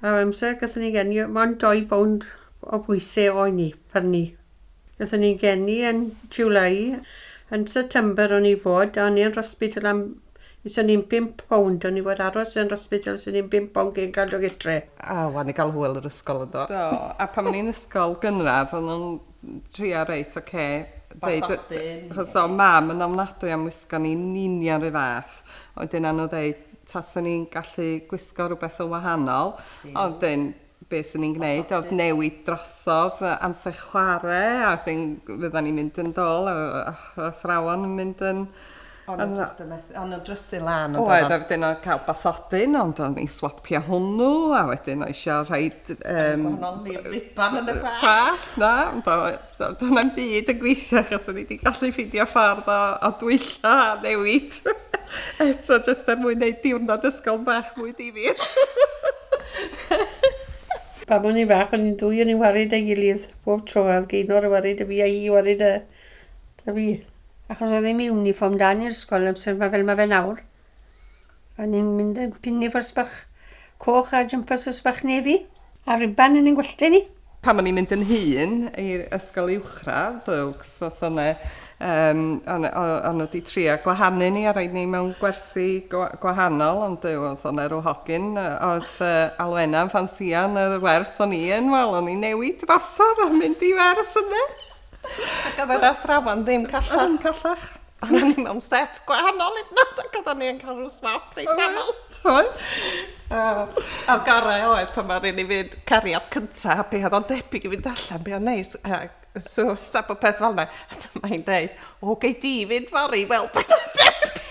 Ar amser, gathon ni geni mond dou bownd o bwyse oen ni, pan ni. Gathon ni geni yn July. Yn September o'n i fod, a o'n i yn rhospital am, is o'n i'n bump bownd, o'n i fod aros yn rhospital is o'n i'n bump bownd cyn cael dod gytre. A wan i gal hwyl yr ysgol yndo? Do, a pan o'n i'n ysgol gynradd o'n nhw'n trio reit ocê ddeud yy Bathodyn. Achos o' mam yn ofnadwy am wisgo ni yn union 'run fath, a wedyn a' nhw ddeud Tasen ni'n gallu gwisgo rhywbeth yn wahanol, ond dyn, be swn i'n gwneud oedd newid drosodd amser chwarae, a wedyn fyddan ni'n mynd yn dol, a athrawon yn mynd yn... O'n nhw jyst yn methu, o'n nhw'n drysu lan yn doeddan? Oedd, a wedyn oedd cael bathodyn, ond o'n i'n swopio hwnnw, a wedyn oedd eisiau rhaid... Gwahanol lif riban yn y gwallt! ...gwallt, na, ond oedd... So, dyna'n byd yn gweithio achos o'n i wedi gallu ffeindio ffordd o, o dwylla a newid. Eto, jyst er mwyn neud diwrnod ysgol bach mwy difyr. Pam o'n i'n fach, o'n i'n dwy o'n i'n warid ei gilydd bob tro. Oedd Gaynor yn warid y fi a hi yn warid y... y fi. Achos oedd ddim uniform da ni'r ysgol amser 'ma fel mae fe nawr. A ni'n mynd yn pin efo'r sbach coch a jympers y sbach nefi a riban yn ein gwallte ni. Pan o'n i'n mynd yn hŷn i ysgol uwchradd, Oaks, os o' 'ne yym o' 'ne o' o' nhw 'di trio gwahanu ni a roid ni mewn gwersi gwa- gwahanol ond Duw os o' 'ne ryw hogyn yy o'dd yy Alwena'n ffansïo yn yr wers o'n i yn wel o'n i'n newid drosodd a mynd i wers ynde? Ac oedd yr athrawon ddim callach. Oedd yn callach. Oedd ni mewn set gwahanol hyd nad ac oedd ni yn cael rhyw swap reit aml. Oedd. A'r gorau oedd pan mae'r un i fynd cariad cyntaf, a be oedd o'n debyg i fynd allan, be oedd neis, a so sab o peth fel yna. Mae hi'n dweud, o, gei di fynd fori, wel, be oedd debyg.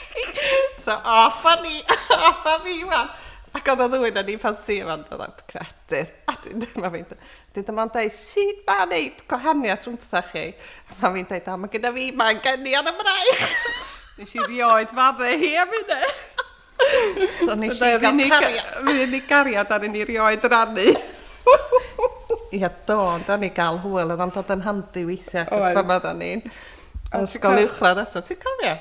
So, off a ni, off a fi, wan. Ac oedd o ddwy'n yn ei ffansi yma, ond oedd o'n credu. A dwi'n ddim yn mynd, Dydy mam dweud, sut mae wneud gwahaniaeth rhwngthoch chi? A mam fi'n dweud, o, mae gyda fi mae'n geni ar y braich. Nes i rioed fadde hi am hynna. So nes i gael cariad. Mae hynny gariad ar hynny rioed yr annu. Ia, do, ond o'n i gael hwyl, oedd o'n dod yn handi weithiau, cos pan oedd o'n i'n ysgol uwchradd eto, ti'n cofio?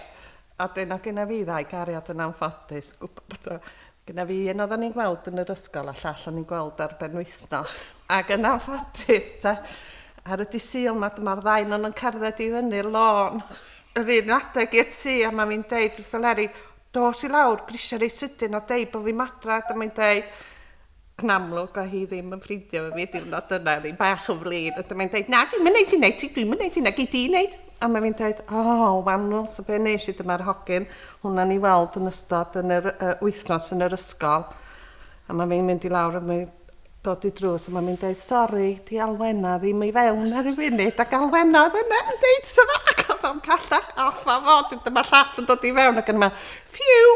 A dyn o gyna fi ddau gariad yn anffodus, gwybod bod o, Gyda fi un oedden ni'n gweld yn yr ysgol a llall o'n ni'n gweld ar ben wythnos. Ac yn anffodus, ta, ar y disil mae dyma'r ddain o'n nhw'n cerdded i fyny'r lôn. Yr un adeg i'r tŷ a mae fi'n deud wrth y leri, dos i lawr, grisiau reit sydyn a deud bod fi'n madra, dyma fi'n deud, Yn amlwg oedd hi ddim yn ffrindio efo fi y diwrnod yna, oedd hi'n bach yn flin. A dyma'n dweud, na, dwi'm yn neud hyn eti, dwi'm yn neud hynna, gei di neud. A mae fi'n dweud, o, Wanwl, so be nes i, dyma'r hogyn hwnna ni weld yn ystod yn yr uh, wythnos yn yr ysgol. A mae fi'n mynd i lawr a mae dod i drws a mae fi'n dweud, sori, di alwenna ddim i fewn ar y funud, ac alwenna oedd yna yn dweud, so mae ac oedd o'n callach off a fod, dyma llall yn dod i fewn ac yn yma, Phew!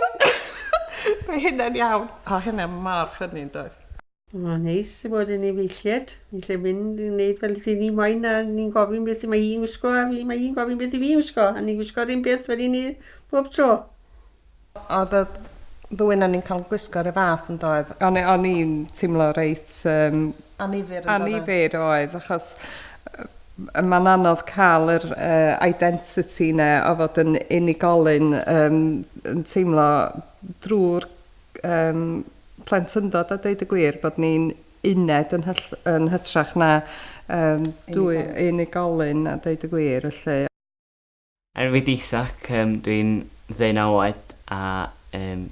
Mae hynna'n iawn. O hynna mor ffynnu yn doedd? Mae'n neis i fod yn efeilliad. Ni'n gallu mynd i wneud fel dyn ni moyn a ni'n gofyn beth y mae hi'n gwisgo a fi mae hi'n gofyn beth i fi'n gwisgo a ni'n gwisgo rhywun beth wedyn ni bob tro. Oedd y ddwy na ni'n cael gwisgo rhyw fath yn doedd? O'n o'n i'n teimlo reit um... Annifyr yn doedd? Annifyr oedd achos Mae'n anodd cael yr identity 'na o fod yn unigolyn, yn teimlo drwy'r plentyndod a deud y gwir bod ni'n uned yn hytrach na dwy unigolyn a deud y gwir 'lly. Enw fi 'di Isaac, dwi'n ddeunaw oed a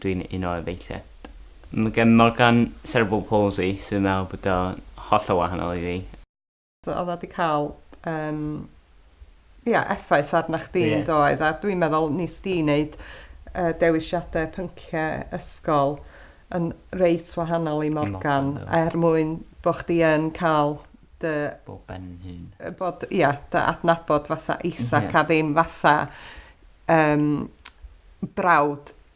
dwi'n un o efeilliaid. Mae gen Morgan cerebral palsy so fi'n meddwl bod o'n hollol wahanol i fi. Oedd o 'di cael yym ia effaith arna chdi... Ie. ...yn doedd? A dwi'n meddwl wnest ti wneud yy dewisiadau pynciau ysgol yn reit wahanol i Morgan... Morgan, do. ...er mwyn bod chdi yn cael dy... Bo ben hun. ...yy bod ia dy adnabod fatha Isaac... Ie. ...a ddim fatha yym brawd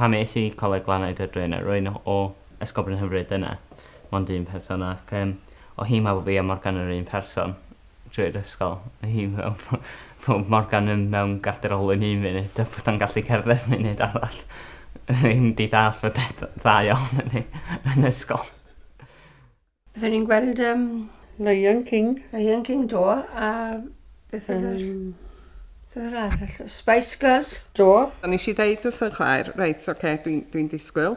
Pam es i Coleg Glannau Dyddryn? Rwy'n o Esgobryn hyfryd dyna mond un person ac yym o hi meddwl fi a Morgan yr un person drwy'r ysgol. O hi meddwl fo fo Morgan yn mewn gader olwyn un munud a bod o'n gallu cerdded munud arall. Rwy'n 'di dallt y peth ddau ohonon ni yn ysgol. Byddwn ni'n gweld... Um, Lion King. Lion King, do. A beth oedd yr... Um, yr arall? Spice Girls? Do. A nes i ddeud wrth yn Claire, reit, oce, okay, dwi'n dwi, dwi disgwyl.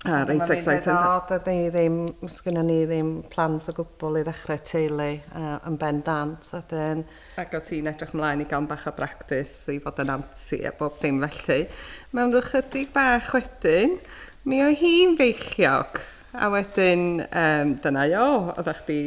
A reit excited. O, dydy ddim, sgynna ni ddim plans o gwbl i ddechrau teulu uh, yn ben dant. A dyn... Ac o ti'n edrych mlaen i gael bach o bractis i fod yn anti a bob dim felly. Mewn rhyw chydig bach wedyn, mi oedd hi'n feichiog. A wedyn yym dyna i o, oeddach chdi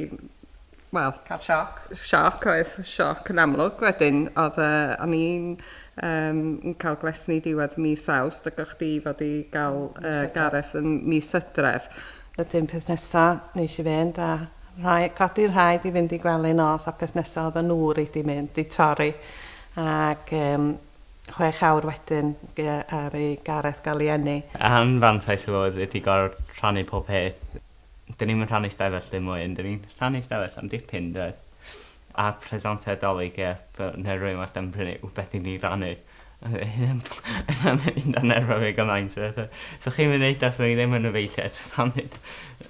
wel... Cael sioc. Sioc oedd, sioc yn amlwg. Wedyn oedd yy o'n i'n yym yn cael gwesni diwedd mis Awst ac o'ch chdi fod i gael yy Gareth yn mis Hydref. Wedyn peth nesa neis i fynd a rhai- codi rhaid i fynd i gwely nos a peth nesa oedden nhw reit i mynd i torri ac yym chwech awr wedyn ar ei Gareth Gallieni. Anfantais efo oedd ydi gor'o' rhannu pob peth. Dyn ni'm yn rhannu stafell ddim mwy ond dyn ni'n rhannu stafell am dipyn yndoes? A presenter Dolig ie fel ne' rywun wastad yn prynu wbeth i ni rannu. Hynna'n nerfio fi gymaint o bethe. So chi'm yn neud o so ni ddim yn efeilliaid so sa'm neud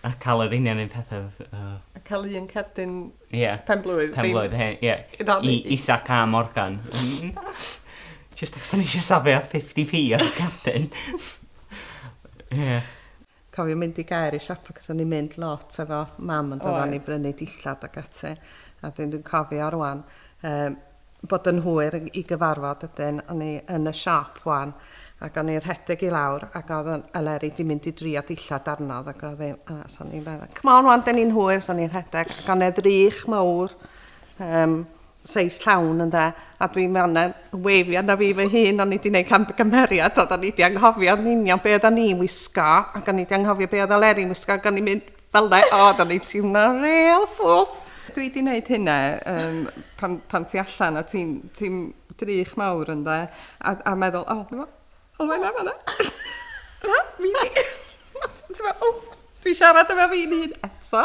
a ca'l yr union un pethe o. A ca'l un cerdyn Ie. Penblwydd. Penblwydd, he- ie. Canu. I Isaac a Morgan. Jyst achos o'n i eisiau safio 50p ar y cardyn. Ie. Cofio mynd i gaer i siopa cos o'n i'n mynd lot efo mam yn dod â ni i brynu dillad ac ati a dwi'n dwi'n cofio rŵan yym bod yn hwyr i gyfarfod ydyn, o'n i yn y siop wan ac o'n i'n rhedeg i lawr ac oedd Eleri di mynd i drio dillad arno ac oedd hi, a so o'n i'n meddwl, come on wan, dyn ni'n hwyr, so o'n i'n rhedeg ac o'n edrych mawr, um, seis llawn yn dda, a dwi'n mewn yn weifio na fi fy hun, o'n i wedi gwneud cam gymeriad, oedd o'n i wedi anghofio yn union be oedd o'n i'n wisgo, ac o'n i wedi anghofio be oedd Aleri'n wisgo, ac o'n i'n mynd, Fel na, o, da ni ti'n na real ffwl. Dwi di wneud hynna um, pan, pan ti allan a ti'n ti drych mawr yn dda, a, a meddwl, o, oh, o, mae'n am yna. Na, mi di. Ti'n meddwl, o, dwi siarad efo fi'n un eto.